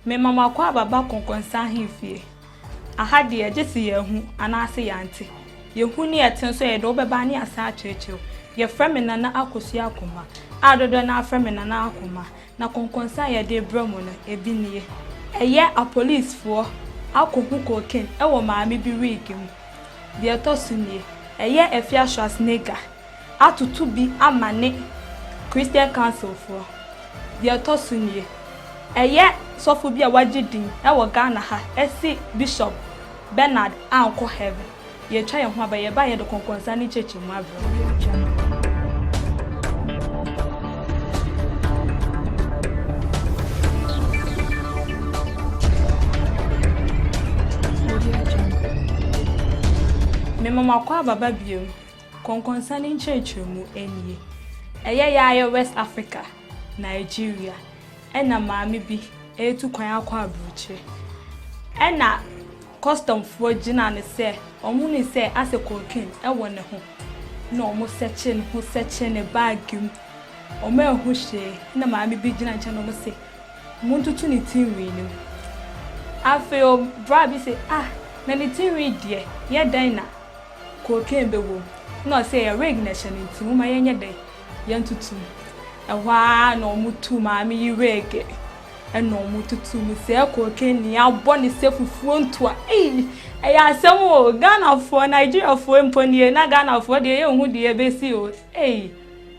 Mema mo akwaaba ba kɔnkɔnsa ahemfie. Aha deɛ, gye se yɛahu anaase yɛante. Yɛhu ne yɛte nso, yɛde wo bɛba ne yɛasan akyerɛkyerɛ wo. Yɛfrɛ me Nana Akosua Akoma, a dodoɔ no ara frɛ me Nana Akoma, na kɔnkɔnsa a yɛde rebrɛ mo no, ebi nie. Ɛyɛ apolisifoɔ akɔhu cocaine wɔ maame bi wig mu. Deɛ ɛtɔ so nie, ɛyɛ Afia Schwarzenegger. atoto bi ama ne Christian Councilfoɔ. Deɛ ɛtɔ so nie, ɛyɛ sɔfo bi a wagye din wɔ Ghana ha se Bishop Bernard ankɔ heaven. Yɛretwa yɛn ho aba, yɛbaeɛ yɛde kɔnkɔnsa ne nkyerɛkyerɛmu abrɛ wo. Mema mo akɔ aba ba bio. Kɔnkɔnsa ne nkyerɛkyerɛmu nie. Ɛyɛ yɛayɛ West Africa, Nigeria, ɛna maame bi retu kwan akɔ aburokyire. Ɛna kɔstɔmfoɔ gyina no sɛ wɔhunu sɛ asɛ kokin wɔ ne ho na wɔn sɛkye ne ho sɛkye ne baage mu. Wɔn a ɛho hyee na maame bi gyina nkyɛn na wɔn se wɔn ntutu ne ti nwi no mu. Afei ɔbra bi se ah na ne ti nwi deɛ yɛ dɛn na Cocaine bɛwɔ mu. Ɛna ɔsɛ ɛyɛ wig na ɛhyɛ no nti momma yɛnyɛ dɛ yɛntoto mu. Ɛhɔ ara na wɔtoo maame yi wig ɛna wɔtotoo mu. Sɛ cocaine ni abɔ ne sɛ fufuo ntoa. Ei! Ɛyɛ asɛm o. Ghanafoɔ, Nigeriafoɔ mpo nie na Ghanafoɔ deɛ yɛnhu deɛ ɛbɛsi o. Ei!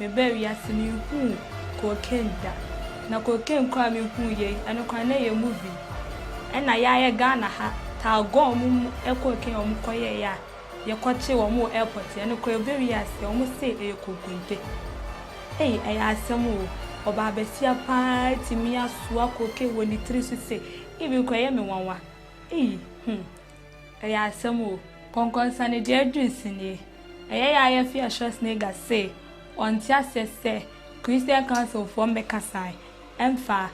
Mebaa wiase me nhuu cocaine da na cocaine koraa me huu yɛ yi ɛno koraa na ɛyɛ movie ɛna yɛ a yɛ Ghana ha taa gɔɔ ɔmo mu ɛ cocaine a ɔmo kɔ yɛ yɛ a yɛ kɔ kye ɔmo wɔ airport yɛ ɛno koraa ɛba wiase ɔmo se ɛyɛ kokonte ei ɛyɛ asɛm o ɔbaa basia paa atumi asoa cocaine wɔ ne tiri so sei even koraa ɛyɛ me nwanwa ei hmm. Ɛyɛ asɛm o! Nkɔnkɔnsane deɛ aduru se nie. Ɛyɛ ya yɛ fia Schwarzenegger se ɔnte aseɛ sɛ Christian Council foɔ mmɛkasae mfa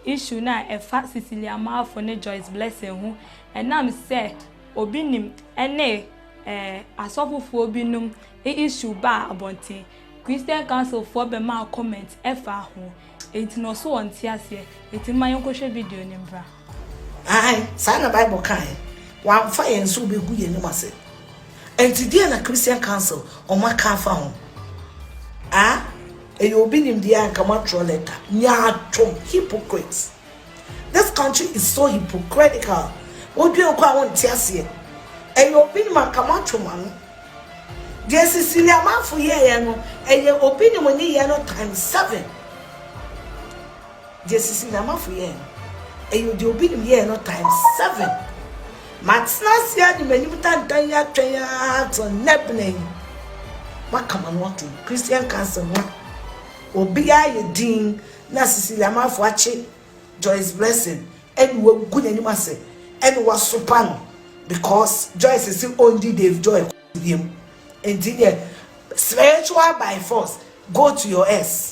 issue no a ɛfa Cecilia Malfo ne Joyce Blessing ho ɛnam sɛ obi nim ɛne eh asɔfo foɔ bi nom e issue baa abɔnten. Christian Council foɔ bɛmaa comment ɛfaa ho. Enti no ɔse ɔnte aseɛ. Enti momma yɛnkɔhwɛ video no mbra. Aane, saa na Bible kaeɛ. Wamfa yɛn sɛ ɔbɛgu yɛn anim ase. Ɛnti deɛn na Christian Council wɔn aka afa ho? Ah, ɛyɛ obi nimdeɛ a nka moatwerɛ lɛta. Nyaatwom, hypocrites. This country is so hypocritical. Wodwen kɔ a wonte aseɛ. Ɛyɛ obi nim anka moatwe mo ano. Deɛ Cecilia Amanfo yɛɛyɛ no, ɛyɛ obi nim nyeyɛɛ no times seven. Deɛ Sisi Nyamafo yɛɛ no, ɛyɛ deɛ obi nim yɛɛ no times seven. Matena ase ara de m'anim tantan yi atwɛn ara till nnɛ bena yi. Moaka m'ano atom. Christian Council no a, obiara ayɛ dinn na Sisi Nyamafo akye Joyce Blessing ɛne wagu n'anim ase ɛne wasopa no because Joyce se ɔndi Dave Joy kɔso biam. Enti deɛ spiritual by force go to your S.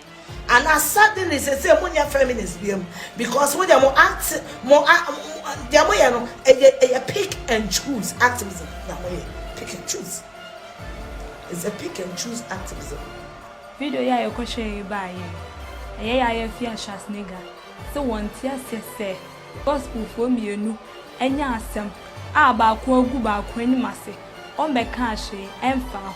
Ana suddenly sesei mo nyɛ feminist biam because mo deɛ mo act mo a deɛ mo yɛ no ɛyɛ ɛyɛ pick and choose activism na mo yɛ pick and choose it's a pick and choose activism. Video yi a yɛkɔ hwɛɛ yi baa yɛn ɛyɛ yɛ ayɛ fii a Schwarzenegger se wɔn te aseɛ sɛ gospel foɔ mmienu anya asɛm a baako agu baako anim ase wɔn bɛkaa hwee ɛnfaa ho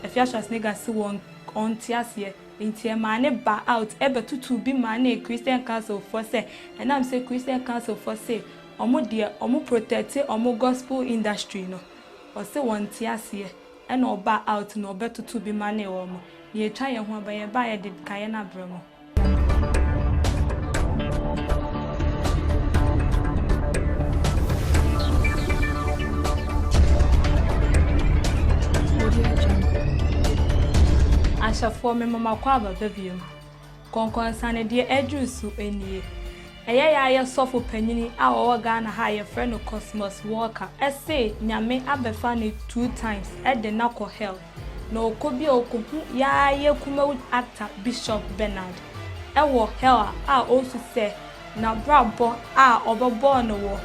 ɛfia Schwarzenegger se wɔn ɔnte aseɛ, enti ɛmaa ne ba out bɛtotoo bi maa ne Christian Council foɔ sɛ ɛnam sɛ Christian Council foɔ se ɔmo deɛ ɔmo protɛte ɔmo Gospel industry no, ɔse wɔnte aseɛ ɛna ɔbaa out na ɔbɛtoto bi manee ɔmo. Nea atwa yɛn ho aba, yɛbaeɛ de kaeɛ no abrɛ mo. ahyɛfoɔ mema makɔ ababa biom kɔnkɔnsanedeɛ aduru so nie ɛyɛ yɛ ayɛ sɔfo panyini a ɔwɔ ghana ha a yɛfrɛ no cosmos walker ɛse nyame abɛfa ne two times ɛde na kɔ hell Na ɔkɔ bi a ɔkɔhu Yaa Yɛ Kumawu Actor Bishop Bernard wɔ hell a ɔresu sɛ n'abrabɔ a ɔbɛbɔɔ no wɔ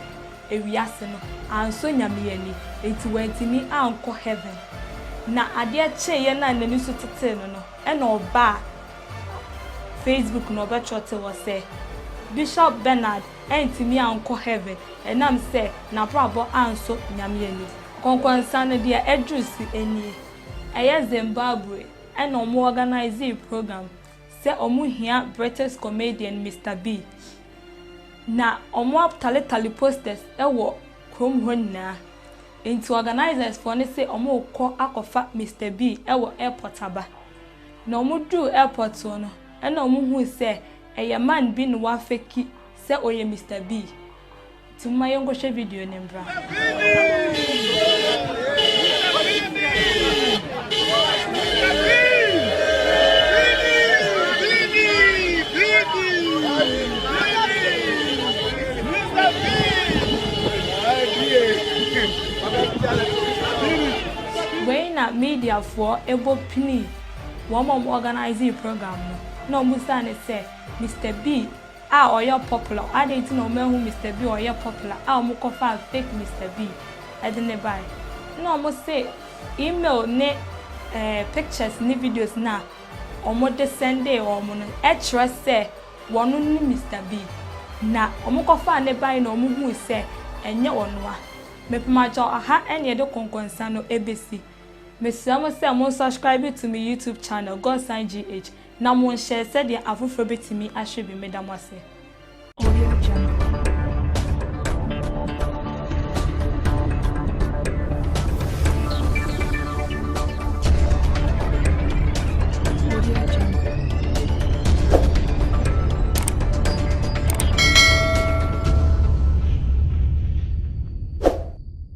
ewiase no ansɔ Nyame ani nti wantumi ankɔ heaven. Na adeɛ kyeeɛ no a n'ani so tetee no no ɛna ɔbaa Facebook na ɔbɛtwɔtee hɔ sɛ Bishop Bernard antumi ankɔ heaven ɛnam sɛ n'abrabɔ ansɔ Nyame ani. Kɔnkɔnsa no deɛ aduru se nie, ɛyɛ Zimbabwe ɛna ɔmo ɔganayzee program sɛ ɔmo hia British comedian Mister B. Na ɔmo ataletale posters wɔ kurom hɔ nyinaa, nti ɔganayzers foɔ no se ɔmo rekɔ akɔfa Mister B wɔ airport aba. Na ɔmo duru airport hɔ no ɛna ɔmo hui sɛ ɛyɛ man bi na wafeki sɛ ɔyɛ Mister B. Nti momma yɛnkɔhwɛ video no mbra. Wei na media foɔ ɛbɔ pinii wɔn a wɔn organisee program no na wɔn bisaa no sɛ Mister Bee a ɔyɛ popular adɛn nti na wɔanhu Mister Bi a ɔyɛ popular a wɔn kɔ faa fake Mister Bi de no bae na wɔn se email ne eh pictures ne videos no a wɔn de sɛndee wɔn no kyerɛ sɛ wɔn ne Mister Bi na wɔn kɔ faa no bae na wɔn hui sɛ ɛnyɛ wɔn a mepem agya ɔha ɛne yɛde kɔnkɔnsa no ɛbesi mesrɛ mo sɛ mo subscribe to me YouTube channel Godson GH Na monhyɛ sɛdeɛ afoforɔ bɛtumi ahwɛ bi meda mo ase. Audio Jungle.